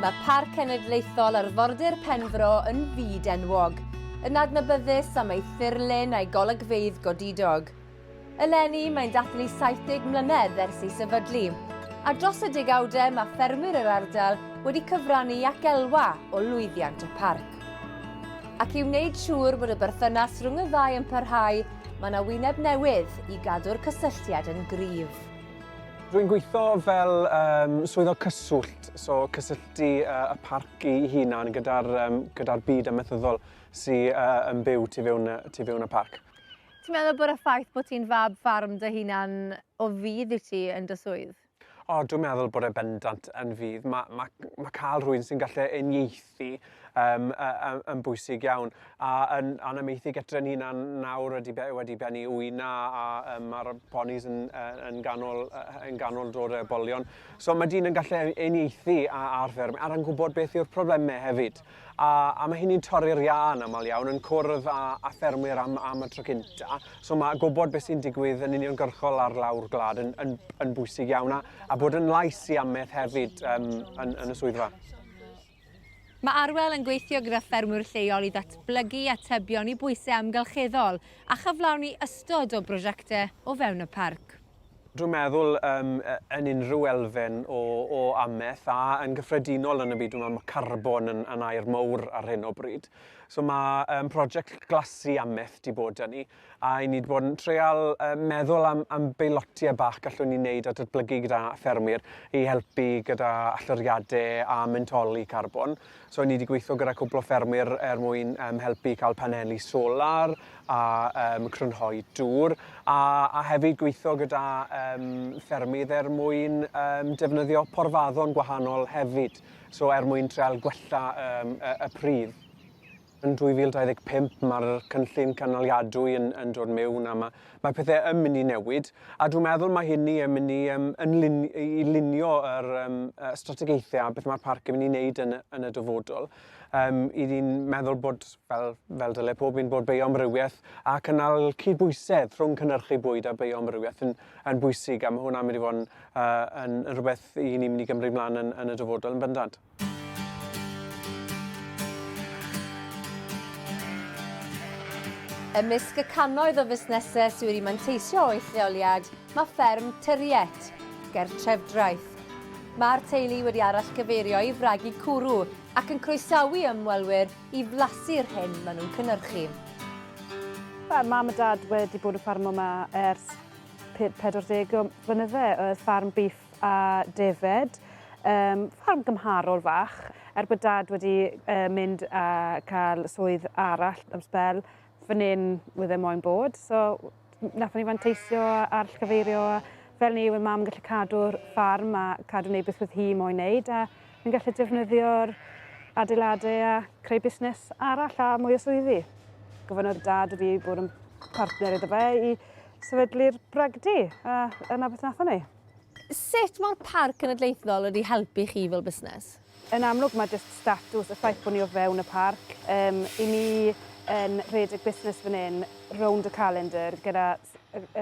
Mae Parc Cenedlaethol Arfordir Penfro yn fyd enwog, yn adnabyddus am ei thirlun a'i golygfeydd godidog. Eleni, mae'n dathlu 70 mlynedd ers ei sefydlu, a dros y degawdau mae ffermwyr yr ardal wedi cyfrannu ac elwa o lwyddiant y parc. Ac i wneud siŵr bod y berthynas rhwng y ddau yn parhau, mae yna wyneb newydd i gadw'r cysylltiad yn gryf. Rwy'n gweithio fel um, swyddog cyswllt, so cysylltu uh, y parc i hunan gyda'r um, gyda byd amaethyddol sy'n uh, yn byw tu fewn, tu fewn y parc. Ti'n meddwl bod y ffaith bod ti'n fab ffarm dy hunan o fydd i ti yn dy swydd? O, dwi'n meddwl bod e bendant yn fydd. Mae, ma, ma cael rhywun sy'n gallu uniaethu um, um, yn bwysig iawn. A yn anamaethig etren ni nawr wedi, wedi bennu wyna a um, mae'r ponis yn, yn, ganol, yn ganol dod y bolion. So mae dyn yn gallu uniaethu ar fferm a'r yn gwybod beth yw'r problemau hefyd. A, a mae hynny'n torri'r iâ yn aml iawn, yn cwrdd â, â ffermwyr am, am y tro cynta. So mae gwybod beth sy'n digwydd yn uniongyrchol ar lawr gwlad yn, yn, yn bwysig iawn, a, a bod yn lais i ameth hefyd um, yn, yn y swyddfa. Mae Arwel yn gweithio gyda ffermwyr lleol i ddatblygu atebion i bwysau amgylcheddol a chyflawni ystod o brosiectau o fewn y parc. Dwi'n meddwl um, yn unrhyw elfen o, o amaeth a yn gyffredinol yn y byd, dwi'n meddwl mae carbon yn, yn air mowr ar hyn o bryd. So mae um, prosiect glasu amaeth di bod yn ni a i ni wedi bod yn treol um, meddwl am, am beilotiau bach gallwn ni wneud a datblygu gyda ffermwyr i helpu gyda alloriadau a mentoli carbon. So ni wedi gweithio gyda cwpl o ffermwyr er mwyn um, helpu i cael paneli solar a um, crynhoi dŵr a, a hefyd gweithio gyda um, ffermydd er mwyn um, defnyddio porfaddon gwahanol hefyd, so er mwyn treol gwella um, y, y pridd. Yn 2025 mae'r cynllun cynaliadwy yn, yn dod mewn a mae, mae pethau yn mynd i newid a dwi'n meddwl mae hynny yn mynd i, um, yn lun, i lunio yr um, strategaethau a beth mae'r parc yn mynd i wneud yn, yn y dyfodol. Um, I ni'n meddwl bod, fel, fel dyle pob un, bod bioamrywiaeth a cynnal cydbwysedd rhwng cynnyrchu bwyd a bioamrywiaeth yn, yn bwysig a mae hwnna'n mynd i fod yn, uh, yn, yn rhywbeth i ni'n mynd i gymryd mlaen yn, yn y dyfodol yn bendant. Ymysg y cannoedd o fusnesau sydd wedi manteisio o'u lleoliad mae fferm Tyriet, ger Trefdraeth. Mae'r teulu wedi arallgyfeirio i fragu cwrw ac yn croesawu ymwelwyr i flasu'r hyn maen nhw'n cynhyrchu. Mae mam a dad wedi bod yn ffarmo yma ers 40 mlynydde, oedd ffarm bîff siop a defaid, yym, ffarm gymharol fach. Er bod Dad wedi uh, mynd a cael swydd arall am sbel, fan hyn wydde moyn bod. So, nath ni fanteisio ar llgyfeirio fel ni, wedi mam gallu cadw'r ffarm a cadw wneud beth wrth hi moyn wneud, a ni'n gallu defnyddio'r adeiladau a creu busnes arall a mwy o swyddi. Gofynnodd Dad wedi bod yn partner iddo fe i sefydlu'r bragdy, a yna beth nath ni. Sut mae'r Parc Cenedlaethol wedi helpu chi fel busnes? Yn amlwg mae jyst statws, y ffaith bod ni o fewn y parc, um, i ni yn rhedeg busnes fan hyn rownd y calendar gyda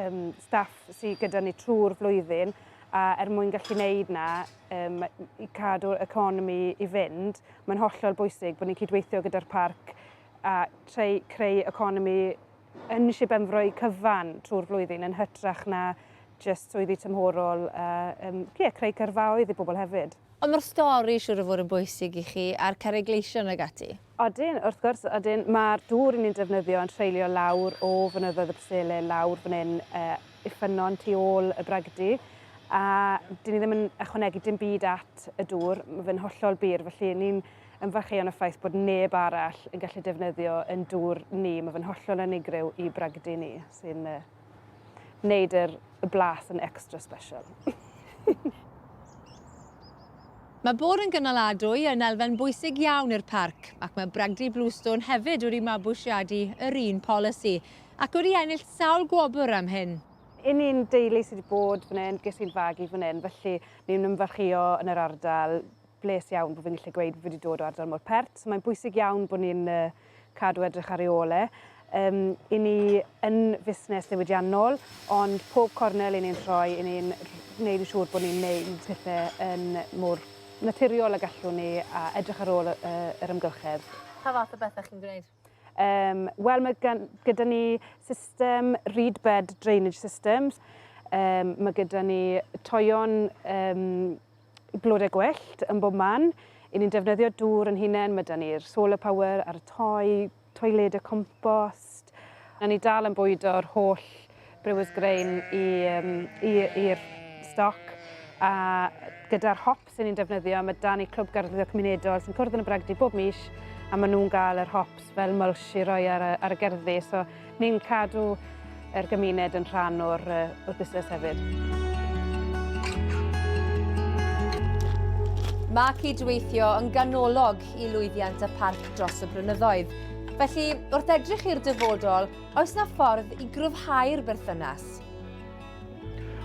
um, staff sydd gyda ni trwy'r flwyddyn a er mwyn gallu gwneud na um, i cadw'r economi i fynd, mae'n hollol bwysig bod ni'n cydweithio gyda'r parc a treu, creu economi yn Sir Benfro eu cyfan trwy'r flwyddyn yn hytrach na jyst swyddi tymhorol a um, yeah, creu cyrfaoedd i bobl hefyd. Ond mae'r stori siwr o fod yn bwysig i chi a'r carreg gleision ag ati. Odyn, wrth gwrs, odyn, mae'r dŵr ni'n defnyddio yn treulio lawr o fynyddoedd y Presele, lawr fan hyn, uh, i ffynnon tu ôl y bragdy, a dyn ni ddim yn ychwanegu dim byd at y dŵr, mae fe'n hollol bur, felly ni'n Ymfalchïo yn y ffaith bod neb arall yn gallu defnyddio yn dŵr ni, mae fe'n hollol unigryw i bragdy ni, sy'n uh, wneud yr, y blas yn extra special. Mae bod yn gynaladwy yn elfen bwysig iawn i'r parc, ac mae Bragdy Bluestone hefyd wedi mabwysiadu yr un polisi, ac wedi ennill sawl gwobr am hyn. I ni'n deulu sydd wedi bod fan hyn, ges i'n fagu fan hyn, felly ni'n ymfalchio yn yr ardal, bles iawn bod fi'n gallu gweud fi wedi dod o ardal mor pert. So mae'n bwysig iawn bod ni'n uh, cadw edrych ar ei ôl e. Um, I ni yn fusnes ddiwydiannol, ond pob cornel i ni'n rhoi, i ni'n gwneud yn siŵr bod ni'n neud pethau yn mor naturiol a gallwn ni a edrych ar ôl uh, yr ymgylchedd. Pa fath o bethau chi'n gwneud? Um, Wel, mae gyda ni system reed bed drainage systems, um, mae gyda ni toion um, blodau gwellt yn bob man, i ni'n defnyddio dŵr yn hunain, mae da ni'r solar power a'r toi, toiledau compost, a ni dal yn bwydo'r holl Brewers grain i'r stoc a gyda'r hop sy'n ni'n defnyddio, mae dan i Clwb Garddwyddo Cymunedol sy'n cwrdd yn y Bragdy bob mis a maen nhw'n gael yr hops fel mulch i roi ar y, ar y gerddi. So ni'n cadw yr gymuned yn rhan o'r, o'r busnes hefyd. Mae cydweithio yn ganolog i lwyddiant y parc dros y brynyddoedd. Felly, wrth edrych i'r dyfodol, Oes na ffordd i gryfhau'r berthynas?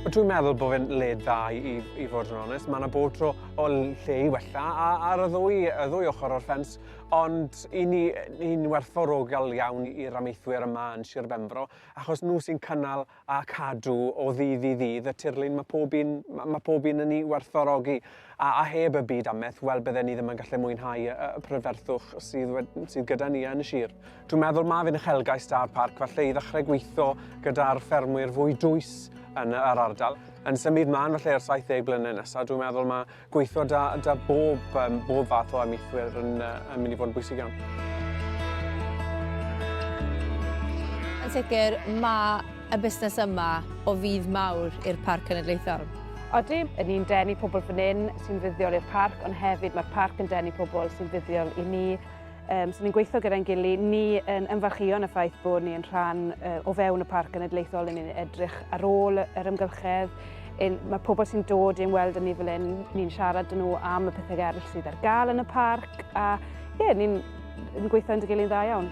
Ond dwi'n meddwl bod fe'n led dda i, i, i fod yn onest. Mae yna bod tro o lle i wella a, ar y ddwy, y ddwy ochr o'r ffens. Ond i ni, ni'n werthfawrogol iawn i'r amaethwyr yma yn Sir Benfro, achos nhw sy'n cynnal a cadw o ddydd i ddydd y tirlun mae pob un, mae pob un yn ei werthfawrogi. A, a heb y byd ameth, wel bydden ni ddim yn gallu mwynhau y, y pryferthwch sydd, sydd gyda ni yn y sir. Dwi'n meddwl mae fe'n uchelgais da'r parc falle i ddechrau gweithio gyda'r ffermwyr fwy dwys yn yr ardal. Yn symud mlaen falle i'r 70 blynedd nesaf, dwi'n meddwl mae Gweithio da, da bob, um, bob fath o amaethwyr yn, uh, yn mynd i fod yn bwysig iawn. Yn sicr, mae y busnes yma o fydd mawr i'r Parc Cenedlaethol. Oeddi, yn ni'n denu pobl fan hyn sy'n fuddiol i'r parc, ond hefyd mae'r parc yn denu pobl sy'n fuddiol i ni. Um, so ni'n gweithio gyda'n gili. Ni yn ymfarchion y ffaith bod ni'n rhan uh, o fewn y Parc Genedlaethol yn ni'n edrych ar ôl yr ymgylchedd. Yn, mae pobl sy'n dod i'n weld yn ni fel un, ni'n siarad yn nhw am y pethau eraill sydd ar gael yn y parc a ie, yeah, ni'n yn gweithio yn dy gilydd dda iawn.